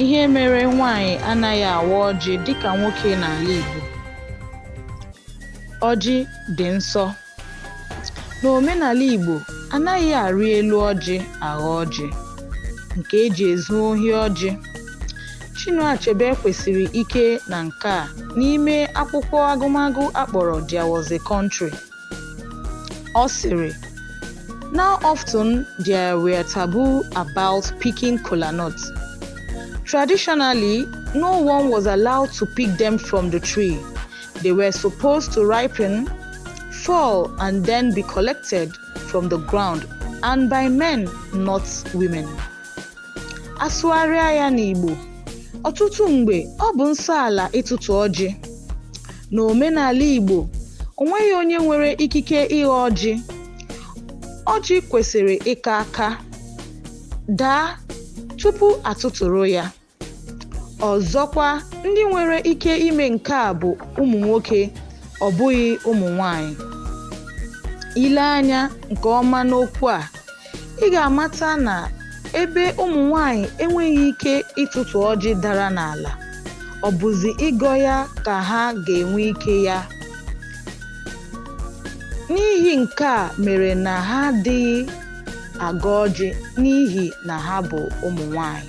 Ihe mere nwaanyị anaghị awa ọjị dịka nwoke n'ala Igbo. Ọjị dị nsọ. N'omenala Igbo, anaghị arị elu ọjị aghọ ọjị, nke e ji ezu ohi ọjị. Chinua Achebe kwusiri ike na nke a n'ime akwụkwọ agụmagụ a kpọrọ There Was a Country. Ọ sịrị na often there were taboo about picking kola nuts. Traditionally, no one was allowed to pick them from the tree. They were supposed to ripen, fall, and then be collected from the ground and by men, not women. A sụgharịa ya n'Igbo, ọtụtụ mgbe ọ bụ nsọ ala ịtụtụ ọjị. N'omenala Igbo, o nweghị onye nwere ikike ịghọ ọjị. Ọjị kwesịrị ịka aka, daa tupu a tụtụrụ ya. Ọzọkwa, ndị nwere ike ime nke a bụ ụmụ nwoke, ọ bụghị ụmụ nwaanyị. I lee anya nke ọma n'okwu a, ị ga-amata na ebe ụmụ nwanyị enweghị ike ịtụtụ ọjị dara n'ala ọ bụzi ịgọ ya ka ha ga-enwe ike ya n'ihi nke a mere na ha adịghị agọ ọjị n'ihi na ha bụ ụmụ nwanyị